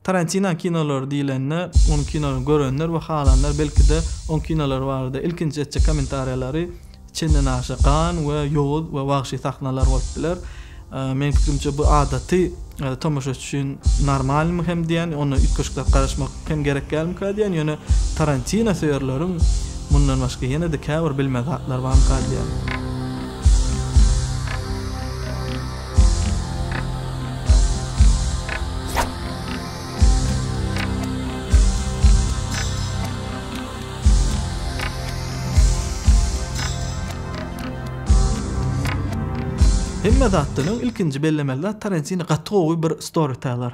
Tarantino kinolary diýlende, onuň kinolaryny görenler we halanlar belki-de oň kinolary barada ilkinji etjek kommentariýalary çendenaşa gan we ýowuz we wagşy sahnalar bolup biler. Meniň pikirimçe bu adaty tomaşaçy üçin normalmy hem diýän, onda üýtgeşikler garaşmak hem gerek dälmikä diýän, ýöne Tarantino söýerleriň mundan başga ýene-de käbir bilmez zatlar barmyka diýän. Hemme zatdan öň ilkinji bellemeli zat Tarantino gaty gowy bir storyteller.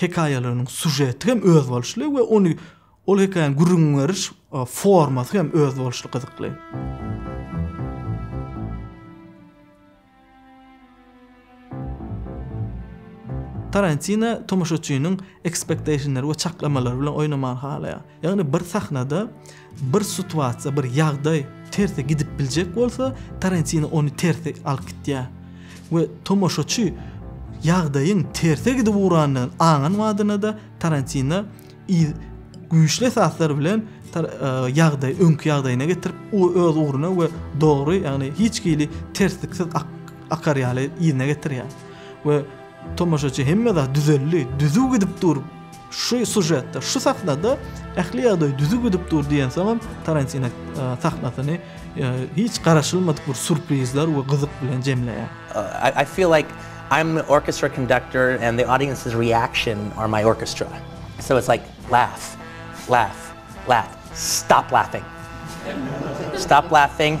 hekaýalarynyň sužeti hem özboluşly we ony ol hekaýany gürrüň beriş formasy hem özboluşly gyzykly. Tarantino tomaşaçynyň ekspektationlary we çaklamalary bilen oýnamagy halaýar. Ýagny bir sahnada bir situasiýa, bir ýagdaý terse gidip biljek bolsa, Tarantino ony terse alyp gitýär. We tomaşaçy ýagdaýyň terse gidip ugrandygyny aňan wadyna-da Tarantino güýçli esaslar bilen e, ýagdaý, öňki ýagdaýyna getirip, o öz ugruna we dogry, ýagny hiç hili tersliksiz akar ýaly ýerine getirýär. We Tomaşaçy hemme zat düzeldi, düzüw gidip dur, şu sujetde, şu sahnada ähli ýagdaý düzüw gidip dur diýensoňam Tarantino e, sahnasyny e, hiç garaşylmadyk bir surprizler we gyzyk bilen jemleýär. Uh, I feel like I'm the orchestra conductor and the audience's reaction are my orchestra. So it's like laugh, laugh, laugh. Stop laughing. Stop laughing.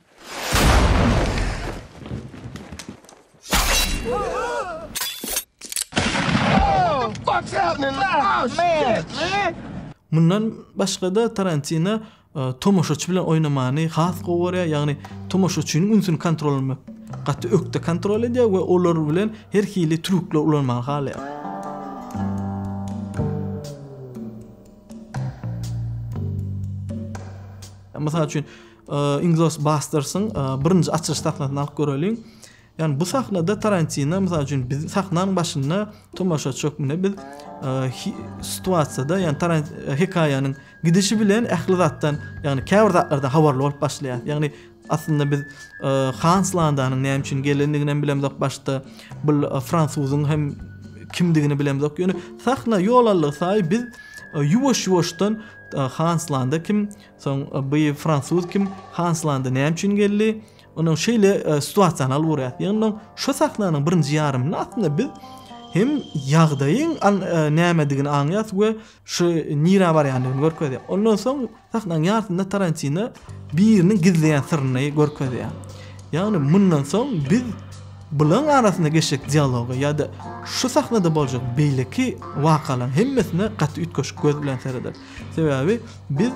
Mundan başga-da Tarantino e, tomaşaçy bilen oýnamany has gowy görýär, ýagny tomaşaçynyň ünsüni kontrol etmek gaty ökde kontrol edýär we olar bilen her hili trükler ulanmagy halaýar. Mysal üçin, Inglourious Basterds-yň birinji açylyş sahnasyny alyp göreliň. Ýagny bu sahnada Tarantino, mysal üçin, biz sahnanyň başynda tomaşaçy hökmünde biz situasiýada, ýagny Tarant hekaýanyň gidişi bilen ähli zatdan, ýagny käbir zatlardan habarly bolup başlaýar. Ýagny aslynda biz Hans Landanyň näme üçin gelendigini hem bilemzok başda. Bu fransuzyň hem kimdigini bilemzok. Ýöne sahna ýol aldygysaýy biz ýuwaş-ýuwaşdan Hans Landa kim, Soň bu fransuz kim? Hanslanda näme üçin geldi? Onuň şeýle situasional görýär. Ýöne şu sahnanyň birinji ýarymynda aslynda biz hem ýagdaýyň nämedigini aňýas we şu nirä barýandygyny görkezýär. Ondan soň sahnanyň ýarysynda Tarantino biriniň gizleýän syryny görkezýär. Ýagny mundan soň biz bulaň arasynda geçjek dialoga ýa-da şu sahnada boljak beýleki wakalaryň hemmesine gaty üýtgeşik göz bilen serederiz. Sebäbi biz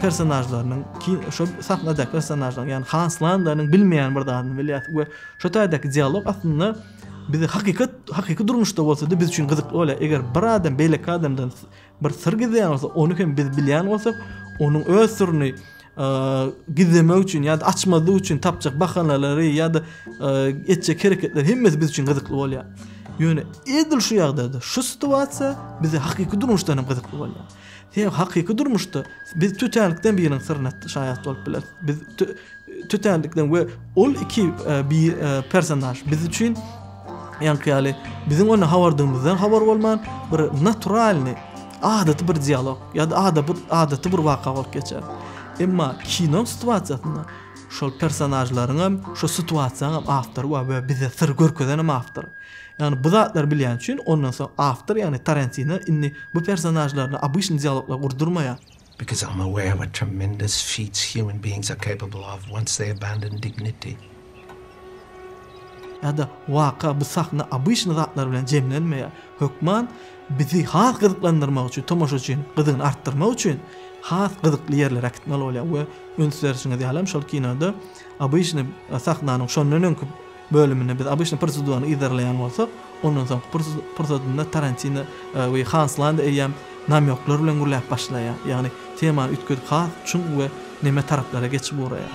personažlarynyň ki şu sahnadaky personažlaryň ýani Hans Landanyň bilmeýän bir zadyny bilýäs we şu taýdaky dialog aslynda bizi hakykat hakyky durmuşda bolsa da biz üçin gyzykly bolýar. Eger bir adam beýleki adamdan bir syr gizleýän bolsa, ony hem biz bilýän bolsak, onuň öz syryny gizlemek üçin ýa-da açmazlyk üçin tapjak bahanalary ýa-da etjek hereketler hemmesi biz üçin gyzykly bolýar. Ýöne edil şu ýagdaýda şu situasiýa bize hakyky durmuşda hem gyzykly bolýar. Sebäbi hakyky durmuşda biz tötänlikden biriniň syryna şaýat bolup bileris. Biz tötänlikden we ol iki bir personaž biz üçin Ýaňky ýaly biziň onda habardygymyzdan habar bolman, bir naturalnyý, adaty bir dialog ýa-da adaty bir waka bolup geçer. Emma kino situasiýasynda şol personažlaryň hem, şo situasiýaň hem awtory bar we bize syry görkezen hem awtor. Ýagny bu zatlary bilýän üçin ondan soň awtor ýagny Tarantino indi bu personažlaryny obyçnyý dialoglar gurdurmaýar. Because I'm aware what tremendous feats human beings are capable of once they abandon dignity. Ýa-da, waka, bu sahna obyçny zatlar bilen jemlenmeýär. Hökman bizi has gyzyklandyrmak üçin, tomaşaçyň gyzygyny artdyrmak üçin has gyzykly ýerlere äkitmeli bolýar we üns berşiňiz ýalam, şol kinoda obyçny sahnanyň şondan öňki bölüminde biz obýçny prosedurany yzarlaýan bolsak, ondan soňky pursadynda Tarantino we Hans Landa eýýäm namýoklar bilen gürläp başlaýar, ýagny temany üýtgedip has çuň we neme taraplara geçip ugraýar.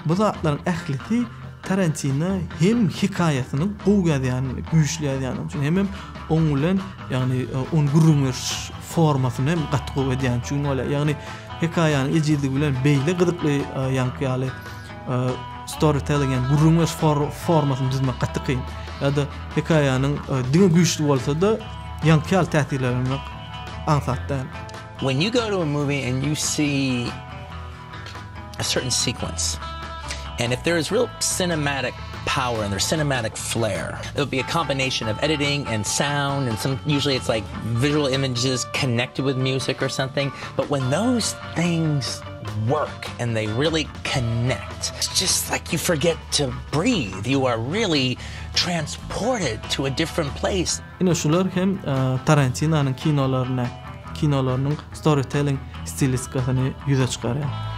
Bu zatlaryň ählisi Tarantino hem hikaýasyny gowy ýazýan, güýçli ýazýan üçin hem oň bilen, ýagny oň gürrüňiş formasyny hem gaty gowy edýän üçin bolýar. Ýagny hekaýanyň ejizligi bilen beýle gyzykly ýaňky ýaly Storytelling ýa gürrüň beriş formasyny düzmek gaty kyn. Ýa-da hekaýanyň diňe güýçli bolsa-da, ýaňky ýaly täsirlendirmek aňsat däl. When you go to a movie and you see a certain sequence and if there is real cinematic power and their cinematic flair. It would be a combination of editing and sound and some usually it's like visual images connected with music or something. But when those things work and they really connect. It's just like you forget to breathe, you are really transported to a different place. Ine şular hem Tarantinanyň kinolarynda kinolarynyň storytelling stilistikasyny ýüze çykarýar.